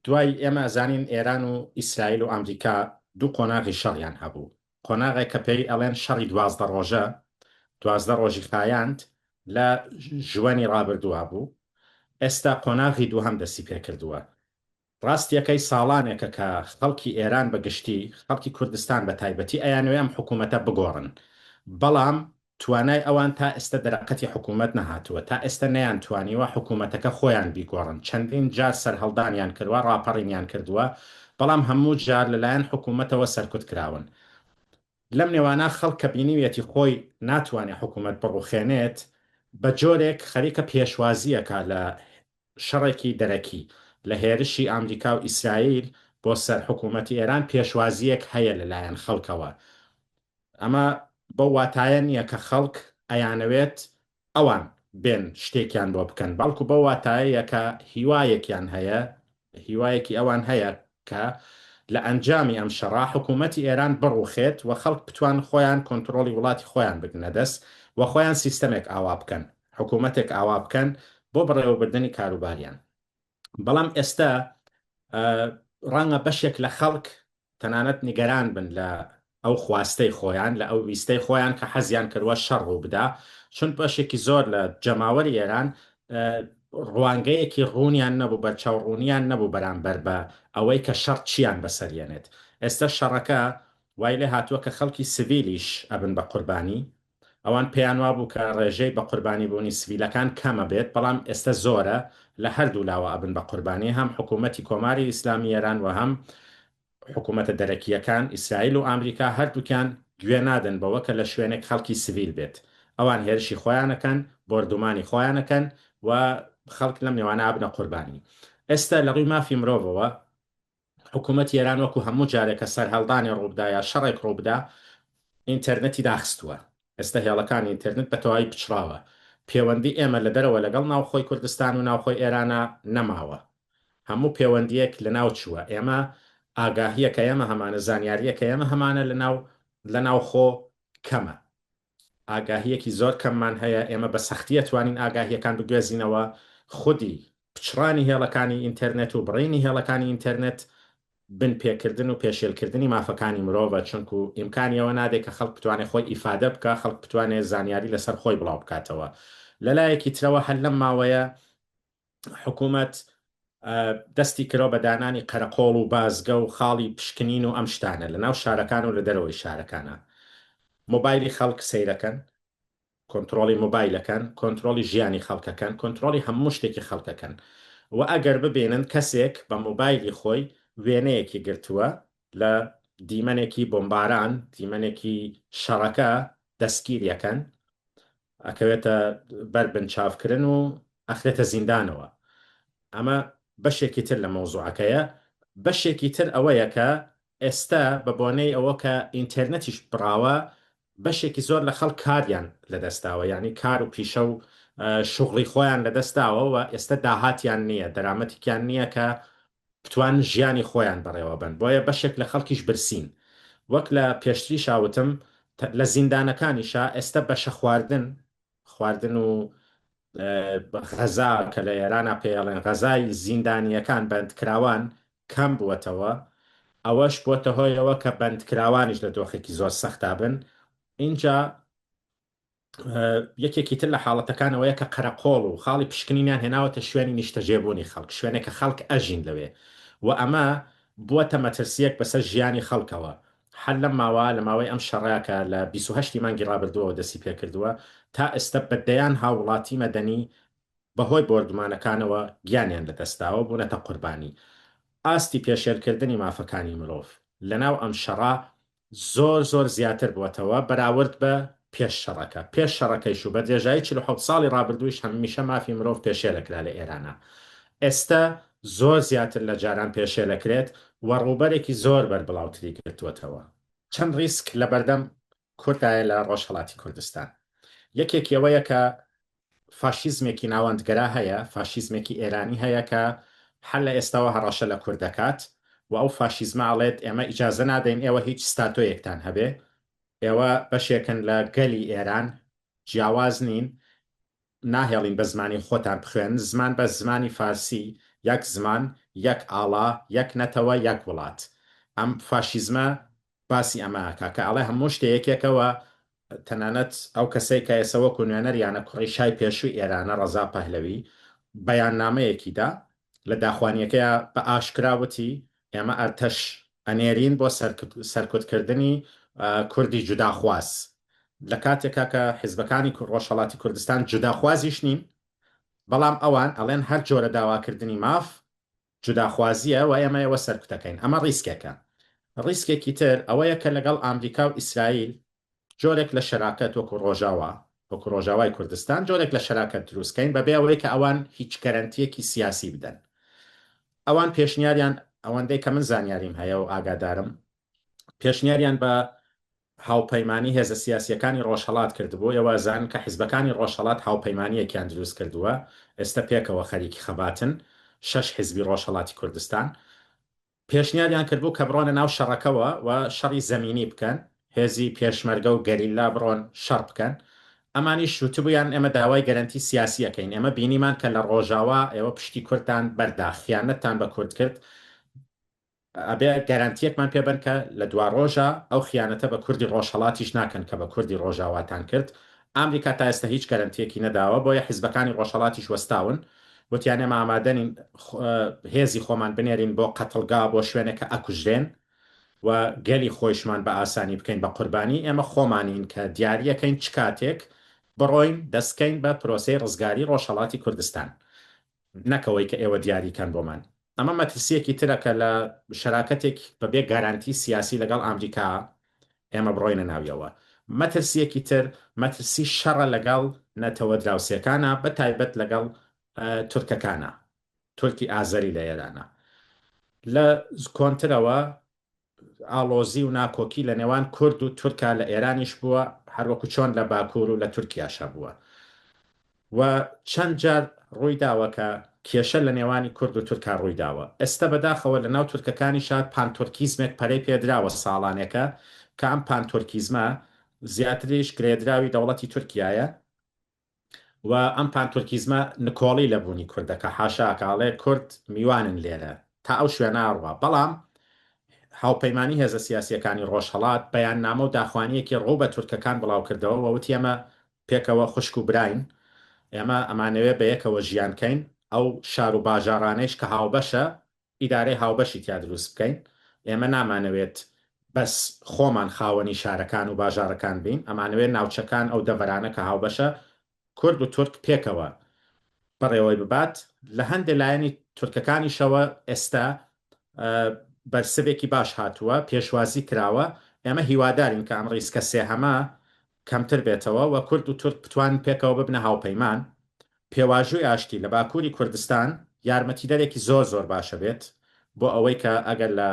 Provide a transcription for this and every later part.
دوای ئێمە ئەزانین ئێران و ئیسرائیل و ئامریکا دوو قۆناغی شەڕیان هەبوو، قۆناغێک کە پێی ئەڵێن شەڕی دوازدە ڕۆژە، دوازدە ڕۆژی خایاند لە ژوەنی ڕابردووا بوو، ئێستا قۆناغی دووهەم دەستی پێ کردووە. ڕاستییەکەی ساڵانێکە کە خەڵکی ئێران بە گشتی، خەڵکی کوردستان بە تایبەتی ئەیانەوێ ئەم حکوومەتە بگۆڕن، بەڵام توانای ئەوان تا ئێستە دەرەقەتی حکوومەت نەهاتووە، تا ئێستە نەیانتوانیوە حکوومەتەکە خۆیان بیگۆڕن، چەندین جار سەرهەڵدانیان کردوە، ڕاپەڕینیان کردووە، بەڵام هەموو جار لەلایەن حکوومەتەوە سەرکوت کراون. لەم نێوانە خەڵک کە بینیویەتی خۆی ناتوانێت حکوومەت بڕوخێنێت، بە جۆرێک خەریکە پێشوازی ئەکات لە شەڕێکی دەرەکی، لە هێرشی ئامریکا و ئیسرائیل بۆ سەر حکوومەتی ئێران پێشوازییەک هەیە لەلایەن خەڵکەوە، ئەمە بەو واتایە نییە کە خەڵک ئەیانەوێت ئەوان بێن شتێکیان بۆ بکەن، بەڵکو بەو واتایەیە کە هیوایەکیان هەیە، هیوایەکی ئەوان هەیە کە لە ئەنجامی ئەم شەڕە حکوومەتی ئێران بڕووخێت و خەڵک بتوان خۆیان کۆنتڕۆڵی وڵاتی خۆیان بگرنە دەست و خۆیان سیستەمێک ئاوا بکەن، حکوومەتێک ئاوا بکەن بۆ بەڕێوەبردنی کاروباریان. بەڵام ئێستا ڕەنگە بەشێک لە خەڵک تەنانەت نیگەران بن لە ئەو خواستەی خۆیان لە ئەو ویستەی خۆیان کە حەزیان کردوە شەڕ ڕوو بدا چون بەشێکی زۆر لە جەماوەری ئێران ڕوانگەیەکی ڕوونیان نەبوو بە چاوڕوونیان نەبوو بەرامبەر بە ئەوەی کە شەڕ چیان بەسەریەنێت ئێستا شەڕەکە وای لێ هاتووە کە خەڵکی سڤیلیش ئەبن بە قوربانی ئەوان پێیان وابوو کە ڕێژەی بە قوربانی بوونی سڤیلەکان کەمە بێت بەڵام ئێستە زۆرە لە هەردوو لاوە ئەبن بە قوربانی هەم حکوومەتی کۆماری ئیسلامی ئێران وە هەم حکوومەتە دەرەکییەکان ئیسرائیل و ئامریکا هەردووکیان گوێ نادەن بەوە کە لە شوێنێک خەڵکی سڤیل بێت ئەوان هێرشی خۆیان ئەکەن بۆردومانی خۆیان ئەکەن و خەڵک لەم نێوانە ئەبنە قوربانی ئێستە لە ڕووی مافی مرۆڤەوە حکوومەتی ئێران وەکوو هەموو جارێک کە سەرهەڵدانێ ڕوو بدا یا شەڕێک ڕوو بدا، ئینتێرنێتی داخستووە. ئێستا هێڵەکانی ئینتێرنێت بە تەواوی پچڕاوە. پێوەندی ئێمە لە دەرەوە لەگەڵ ناوخۆی کوردستان و ناوخۆی ئێرانا نەماوە. هەموو پێوەندییەک لە ناو چووە. ئێمە ئاگاهییەکەیەمە هەمانە، زانیارییەکەیەمە هەمانە لە ناو لە ناوخۆ کەمە. ئاگاهییەکی زۆر کەممان هەیە، ئێمە بە سەختی ئەتوانین ئاگاهییەکان بگوێزینەوە، خودی پچڕانی هێڵەکانی ئینتێرنێت و بڕینی هێڵەکانی ئینتێرنێت بن پێکردن و پێشێلکردنی مافەکانی مرۆڤە، چونکو ئیمکانی ئەوە نادەی کە خەڵک بتوانێ خۆی ئیفادە بکا، خەڵک بتوانێ زانیاری لەسەر خۆی بڵاو بکاتەوە. لە لایەکی ترەوە هەر لەم ماوەیە حکومەت دەستی کرا بە دانانی قەرەقۆڵ و بازگە و خاڵی پشکنین و ئەم شتانە لە ناو شارەکان و لە دەرەوەی شارەکانە مۆبایلی خەڵک سەیرەکەن کۆنترۆڵی مۆبایلەکەن کۆنترۆڵی ژیانی خەڵکەکەن کۆنترۆڵی هەموو شتێکی خەڵکەکەن و ئەگەر ببینن کەسێک بە مۆبایلی خۆی وێنەیەکی گرتووە لە دیمەنێکی بۆمباران دیمەنێکی شەڕەکە دەستگیریەکەن ئەکەوێتە بەر بنچاوکرن و ئەخرێتە زیندانەوە ئەمە بەشێکی تر لە مەوزوعەکەیە بەشێکی تر ئەوەیە کە ئێستا بە بۆنەی ئەوە کە ئینتێرنەتیش بڕاوە بەشێکی زۆر لە خەڵک کاریان لەدەستداوە یعنی کار و پیشە و شوغڵی خۆیان لەدەستداوە و ئێستا داهاتیان نییە دەرامەتیکیان نییە کە بتوانن ژیانی خۆیان بەڕێوەبەن بۆیە بەشێک لە خەڵکیش برسین وەک لە پێشتریشا وتم لە زیندانەکانیشا ئێستە بەشە خواردن خواردن و غەزا کە لە ئێرانا پێیەڵێن غەزای زیندانیەکان بەندکراوان کەم بووەتەوە ئەوەش بۆتە هۆیەوە کە بەندکراوانیش لە دۆخێکی زۆر سەختابن ئینجا یەکێکی تر لە حاڵەتەکان ئەوەیە کە قەرەقۆڵ و خاڵی پشکنینیان هێناوەتە شوێنی نیشتەجێبوونی خەڵک، شوێنێک کە خەڵک ئەژین لەوێ و ئەمە بووەتە مەترسییەک بەسەر ژیانی خەڵکەوە. هەر لەم ماوە، لە ماوەی ئەم شەڕە کە لە بیست و هەشت ی مانگی ڕابردووەوە دەستی پێ کردووە، تا ئێستە بە دەیان هاووڵاتی مەدەنی بەهۆی بۆردومانەکانەوە گیانیان لەدەست داوە و بوونەتە قوربانی. ئاستی پێشێلکردنی مافەکانی مرۆڤ لەناو ئەم شەڕە زۆر زۆر زیاتر بووەتەوە بەراورد بە پێش شەڕەکە، پێش شەڕەکەیش و بە درێژایی چل و حەوت ساڵی ڕابردوویش هەمیشە مافی مرۆڤ پێشێلەکرا لە ئێرانا، ئێستە زۆر زیاتر لە جاران پێشێلەکرێت و ڕووبەرێکی زۆر بەربڵاوتری گرتووەتەوە. چەند ڕیسک لەبەردەم کوردایە لە ڕۆژهەڵاتی کوردستان، یەکێکی ئەوەیە کە فاشیزمێکی ناوەندگەرا هەیە، فاشیزمێکی ئێرانی هەیە کە هەر لە ئێستاوە هەڕەشە لە کورد دەکات و ئەو فاشیزمە ئەڵێت ئێمە ئیجازە نادەین ئێوە هیچ ستاتۆیەکتان هەبێ، ئێوە بەشێکن لە گەلی ئێران، جیاواز نین، ناهێڵین بە زمانی خۆتان بخوێنن، زمان بەس زمانی فارسی، یەک زمان، یەک ئاڵا، یەک نەتەوە، یەک وڵات. ئەم فاشیزمە باسی ئەمە ئەکا کە ئەڵێ هەموو شتێ یەکێکە و تەنانەت ئەو کەسەی کە ئێسە وەکوو نوێنەر یانە کوڕی شای پێشووی ئێرانە ڕەزا پەهلەوی بەیاننامەیەکی دا لە داخوانییەکەیا بە ئاشکرا وتی ئێمە ئەرتەش ئەنێرین بۆ سەرکوت کردنی کوردی جوداخواز لە کاتێکا کە حیزبەکانی ڕۆژهەڵاتی کوردستان جوداخوازیش نین بەڵام ئەوان ئەڵێن هەر جۆرە داواکردنی ماف جوداخوازییە و ئێمە ئێوە سەرکوتەکەین. ئەمە ڕیسکێکە. ڕیسکێکی تر ئەوەیە کە لەگەڵ ئامریکا و ئیسرائیل جۆرێک لە شەراکەت وەکو ڕۆژاوا، وەکو ڕۆژاوای کوردستان جۆرێک لە شەراکەت دروست کەین بەبێ ئەوەی کە ئەوان هیچ گەرەنتییەکی سیاسی بدەن. ئەوان پێشنیاریان، ئەوەندەی کە من زانیاریم هەیە و ئاگادارم، پێشنیاریان بە هاوپەیمانی هێزە سیاسییەکانی ڕۆژهەڵات کردبوو، ئێوە زانن کە حیزبەکانی ڕۆژهەڵات هاوپەیمانییەکیان دروست کردووە، ئێستە پێکەوە خەریکی خەباتن، شەش حیزبی ڕۆژهەڵاتی کوردستان. پێشنیاریان کردبوو کە بڕۆنە ناو شەڕەکەوە و شەڕی زەمینی بکەن، هێزی پێشمەرگە و گەریلا بڕۆن شەڕ بکەن. ئەمانیش وتبوویان ئێمە داوای گەرەنتی سیاسی ئەکەین، ئێمە بینیمان کە لە ڕۆژاوا ئێوە پشتی کوردتان بەردا، خیانەتتان بە کورد کرد، ئەبێ گەرەنتیەکمان پێ بەن کە لە دواڕۆژا ئەو خیانەتە بە کوردی ڕۆژهەڵاتیش ناکەن کە بە کوردی ڕۆژاواتان کرد. ئامریکا تا ئێستە هیچ گەرەنتیەکی نەداوە بۆیە حیزبەکانی ڕۆژهەڵاتیش وەستاون وتیان ئێمە ئامادەنین هێزی خۆمان بنێرین بۆ قەتڵگا بۆ شوێنێک کە ئەکوژرێن و گەلی خۆیشمان بە ئاسانی بکەین بە قوربانی. ئێمە خۆمانین کە دیاریەکەین چ کاتێک بڕۆین دەستکەین بە پرۆسەی ڕزگاری ڕۆژهەڵاتی کوردستان. نەک ئەوەی کە ئێوە دیاری کەن بۆمان. ئەمە مەترسییەکی ترە کە لە شەراکەتێک بە بێ گارانتی سیاسی لەگەڵ ئامریکا ئێمە بڕۆینە ناویەوە. مەترسییەکی تر مەترسی شەڕە لەگەڵ نەتەوە دراوسێکانا بە تایبەت لەگەڵ تورکەکانا. تورکی ئازەری لە ئێرانە. لە کۆنترەوە ئاڵۆزی و ناکۆکی لە نێوان کورد و تورکا لە ئێرانیش بووە، هەروەکو چۆن لە باکوور و لە تورکیاش هەبووە و چەند جار ڕووی داوە کە کێشە لە نێوانی کورد و تورکا ڕووی داوە. ئێستە بە داخەوە لە ناو تورکەکانیشا پانتورکیزمێک پەرەی پێ دراوە ساڵانێکە کە ئەم پانتورکیزمە زیاتریش گرێدراوی دەوڵەتی تورکیایە و ئەم پان تورکیزمە نکۆڵی لە بوونی کورد دەکا حاشا ئەکا ئەڵێ کورد میوانن لێرە تا ئەو شوێنە ئەڕوا بەڵام هاوپەیمانی هێزە سیاسییەکانی ڕۆژهەڵات بەیاننامە و داخوانییەکی ڕوو بە تورکەکان بڵاو کردەوە و وتی ئێمە پێکەوە خوشک و براین ئێمە ئەمانەوێ بەیەکەوە ژیان کەین ئەو شار و باژاڕانەیش کە هاوبەشە ئیدارەی هاوبەشی تیا دروست بکەین، ئێمە نامانەوێت بەس خۆمان خاوەنی شارەکان و باژارەکان بین، ئەمانەوێت ناوچەکان ئەو دەڤەرانە کە هاوبەشە کورد و تورک پێکەوە بەڕێوەی ببات، لە هەندێ لایەنی تورکەکانیشەوە ئێستا بەرسڤێکی باش هاتووە، پێشوازی کراوە، ئێمە هیوادارین کە ئەم ڕیسکە سێهەمە کەمتر بێتەوە و کورد و تورک بتوانن پێکەوە ببنە هاوپەیمان، پێواژووی ئاشتی لە باکووری کوردستان یارمەتیدەرێکی زۆر زۆر باشە بێت بۆ ئەوەی کە ئەگەر لە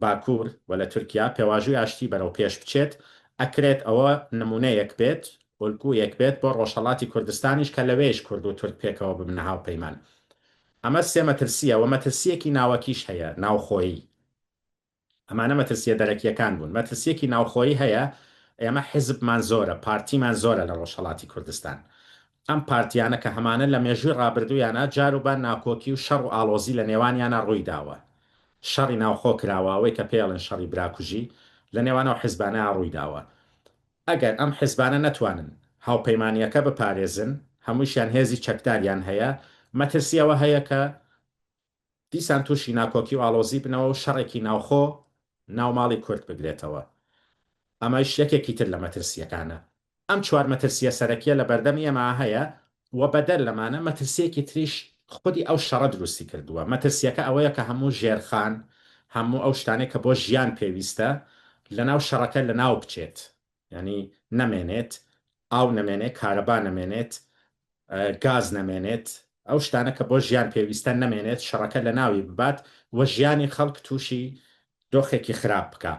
باکوور و لە تورکیا پێواژووی ئاشتی بەرەو پێش بچێت ئەکرێت ئەوە نموونەیەک بێت، ئۆلگوویەک بێت بۆ ڕۆژهەڵاتی کوردستانیش کە لەوێیش کورد و تورک پێکەوە ببنە هاوپەیمان. ئەمە سێ مەترسییە و مەترسییەکی ناوەکیش هەیە، ناوخۆیی. ئەمانە مەترسییە دەرەکییەکان بوون. مەترسییەکی ناوخۆیی هەیە، ئێمە حیزبمان زۆرە، پارتیمان زۆرە لە ڕۆژهەڵاتی کوردستان. ئەم پارتییانە کە هەمانە لە مێژووی ڕابردوویانا جاروبار ناکۆکی و شەڕ و ئاڵۆزی لە نێوانیانا ڕووی داوە. شەڕی ناوخۆ کراوە، ئەوەی کە پێیەڵێن شەڕی براکوژی، لە نێوان ئەو حیزبانەیا ڕووی داوە. ئەگەر ئەم حیزبانە نەتوانن هاوپەیمانییەکە بپارێزن، هەمووشیان هێزی چەکداریان هەیە، مەترسی ئەوە هەیە کە دیسان تووشی ناکۆکی و ئاڵۆزی بنەوە و شەڕێکی ناوخۆ ناو ماڵی کورد بگرێتەوە. ئەمەش یەکێکی تر لە مەترسییەکانە. ئەم چوار مەترسییە سەرەکییە لە بەردەم ئێمە هەیە و بەدەر لەمانە مەترسییەکی تریش خودی ئەو شەڕە دروستی کردووە. مەترسییەکە ئەوەیە کە هەموو ژێرخان، هەموو ئەو شتانەی کە بۆ ژیان پێویستە، لەناو شەڕەکە لەناو بچێت. یانی نەمێنێت ئاو نەمێنێت کارەبا نەمێنێت گاز نەمێنێت ئەو شتانە کە بۆ ژیان پێویستە نەمێنێت شەڕەکە لە ناوی ببات و ژیانی خەڵک تووشی دۆخێکی خراپ بکە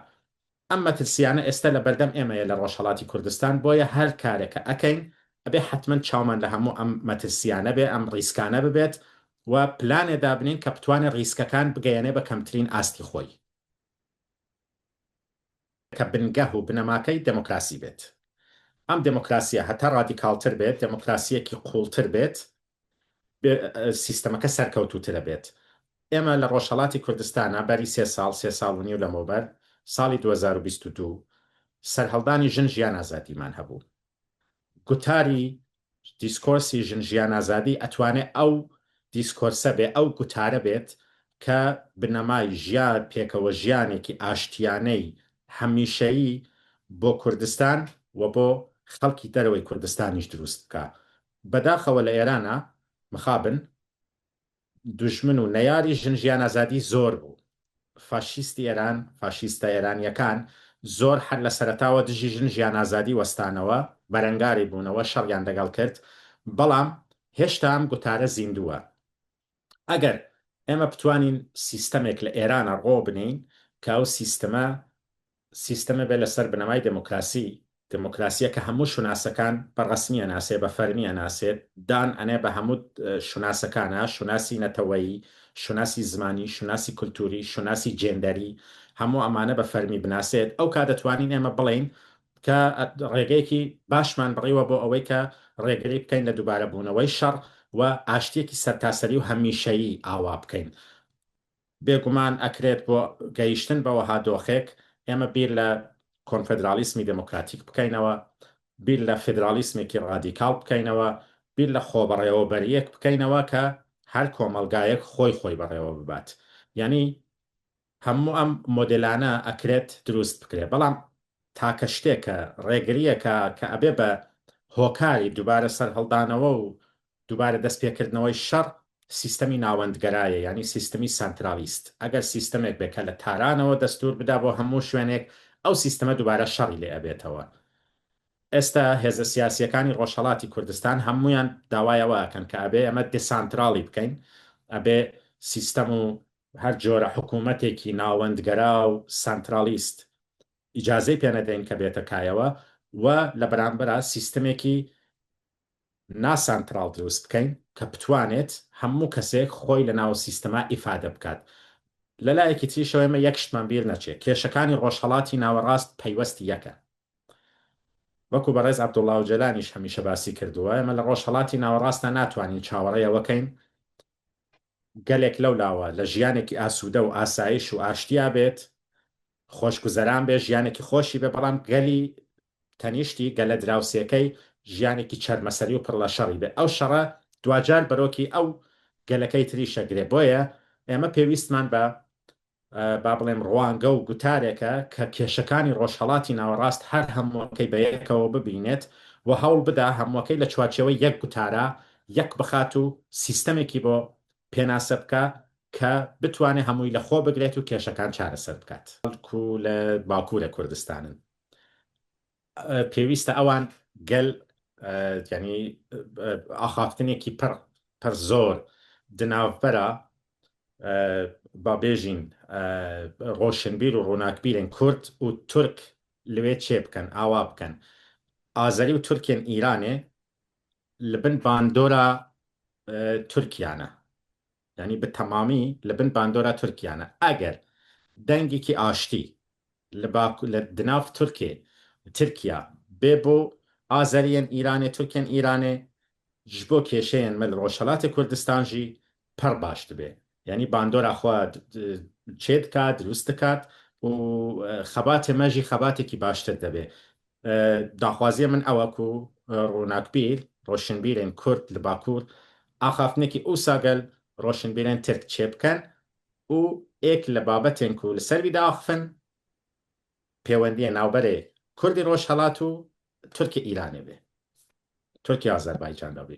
ئەم مەترسیانە ئێستا لە بەردەم ئێمەیە لە ڕۆژهڵاتی کوردستان بۆیە هەر کارێکە ئەکەین ئەبێ حتمما چاومان لە هەموو ئەم مەترسیانە بێ ئەم ڕیسکانە ببێت و پلانێ دابنین کە بتوانێت ڕیسکەکان بگەیەنێ بە کەمترین ئاستی خۆی. کە بنگەه و بنەماکەی دێمۆکراسی بێت. ئەم دێمۆکراسییە هەتا ڕادیکاڵتر بێت، دێمۆکراسییەکی قووڵتر بێت، سیستەمەکە سەرکەوتووترە بێت. ئێمە لە ڕۆژهەڵاتی کوردستانا بەری سێ ساڵ، سێ ساڵ و نیو لەمەوبەر، ساڵی دوو هەزار و بیست و دوو، سەرهەڵدانی ژن ژیان ئازادیمان هەبوو. گوتاری دیسکۆرسی ژن ژیان ئازادی ئەتوانێ ئەو دیسکۆرسە بێ، ئەو گوتارە بێت کە بنەمای ژیان، پێکەوە ژیانێکی ئاشتیانەی هەمیشەیی بۆ کوردستان و بۆ خەڵکی دەرەوەی کوردستانیش دروست بکا. بەداخەوە لە ئێرانا مخابن دوژمن و نەیاری ژن ژیان ئازادی زۆر بوو فاشیستی ئێران فاشیستە ئێرانیەکان زۆر حەر لە سەرەتاوە دژی ژن ژیان ئازادی وەستانەوە بەرەنگاری بوونەوە شەڕیان دەگەڵ کرد بەڵام هێشتا ئەم گوتارە زیندووە ئەگەر ئێمە بتوانین سیستەمێک لە ئێرانە ڕۆ بنین کە ئەو سیستمە سیستەمێ بێ لە سەر بنەمای دێمۆکراسی، دێمۆکراسییە کە هەموو شوناسەکان بە ڕەسمی ئەناسێ، بە فەرمی ئەناسێ، دان ئەنێ بە هەموو شوناسەکانا، شوناسی نەتەوەیی، شوناسی زمانی، شوناسی کولتووری، شوناسی جێندەری، هەموو ئەمانە بە فەرمی بناسێت، ئەو کات دەتوانین ئێمە بڵێین کە ڕێگەیەکی باشمان بڕیوە بۆ ئەوەی کە ڕێگری بکەین لە دووبارە بوونەوەی شەڕ و ئاشتییەکی سەرتاسەری و هەمیشەیی ئاوا بکەین. بێگومان ئەکرێت بۆ گەیشتن بە وەها دۆخێک ئێمە بیر لە کۆنفێدراڵیسمی دێمۆکراتیک بکەینەوە، بیر لە فێدراڵیسمێکی ڕادیکاڵ بکەینەوە، بیر لە خۆبەڕێوەبەرییەک بکەینەوە کە هەر کۆمەڵگایەک خۆی خۆی بەڕێوە ببات. یانی هەموو ئەم مۆدێلانە ئەکرێت دروست بکرێت بەڵام تاکە شتێکە، ڕێگرییەکە کە ئەبێ بە هۆکاری دووبارە سەرهەڵدانەوە و دوبارە دەست پێکردنەوەی شەڕ سیستەمی ناوەندگەرایە یانی سیستمی سانترالیست ئەگەر سیستەمێک بێ کە لە تارانەوە دەستور بدا بۆ هەموو شوێنێک ئەو سیستەمە دوبارە شەڕی لێ ئەبێتەوە ئێستا هێزە سیاسیەکانی ڕۆژهەڵاتی کوردستان هەموویان داوای ئەوە ئەکەن کە ئەبێ ئەمە دسانتراڵی بکەین ئەبێ سیستەم و هەر جۆرە حکوومەتێکی ناوەندگەرا و سانترالیست ئیجازەی پێنەدەین کە بێتە کایەوە و لە بەرامبەرا سیستمێکی نا سانتراڵ دروست بکەین کە بتوانێت هەموو کەسێک خۆی لە ناو سیستەما ئیفادە بکات لە لایەکی تریشەوە ئێمە یەک شتمان بیر نەچێ کێشەکانی ڕۆژهەڵاتی ناوەڕاست پەیوەستی یەکە وەکو بەڕێز عەبدوڵا ئۆجەلانیش هەمیشە باسی کردووە ئێمە لە ڕۆژهەڵاتی ناوەڕاستە ناتوانین چاوەڕێ ئەوەکەین گەلێک لەو لاوە لە ژیانێکی ئاسوودە و ئاسایش و ئاشتیا بێت خۆشگوزەران بێ ژیانێکی خۆشی بێ بەڵام گەلی تەنیشتی گەلە دراوسێکەی ژیانێکی چەرمەسەری و پڕ لە شەڕی بێ ئەو شەڕە دواجار بەرۆکی ئەو گەلەکەی تریش ئەگرێ بۆیە ئێمە پێویستمان بە با بڵێم ڕوانگە و گوتارێکە کە کێشەکانی ڕۆژهەڵاتی ناوەڕاست هەر هەمووەکەی بە یەکەوە ببینێت و هەوڵ بدا هەمووەکەی لە چوارچێوەی یەک گوتارا یەک بخات و سیستەمێکی بۆ پێناسە بکا کە بتوانێت هەمووی لە خۆ بگرێت و کێشەکان چارەسەر بکات بەڵکو لە باکوورە کوردستانن پێویستە ئەوان گەل ینی ئاخافتنێکی پڕ پڕ زۆر دناوبەرە با بێژین ڕۆشنبیر و ڕووناکبیرن کورد و تورک لەوێ چێ بکەن ئاوا بکەن ئازەری و تورکێن ئیرانێ لە بن باندۆرە تورکیانە یانی بە تەمامی لە بن باندۆرا تورکیانە ئەگەر دەنگێکی ئاشتی لە باکو لە دناڤ تورکێ ترکیا بێ بۆ ئازەریەن ئیرانێ تورکێن ئیرانێ ژ بۆ کێشەێن مەل ڕۆژهەلاتێ کوردستان ژی پەڕ باش دبێ یانی باندۆرا خوە چێ دکات دروست دکات و خەباتێ مەژی خەباتێکی باشتر دەبێ داخوازیە من ئەوە کو روناکبیر، رۆشنبیرێن کورد لە باکوور ئاخافتنێکی ئوسا گەل رۆشنبیرێن ترک چێ بکەن ئو ئێک لە بابەتێن کو لە سەر ویدا ئاخفن پێوەندیە ناوبەرێ کوردی رۆژهەڵات و ترکی ئیرانێ بێ ترکی ئازەربایجان دا بێ.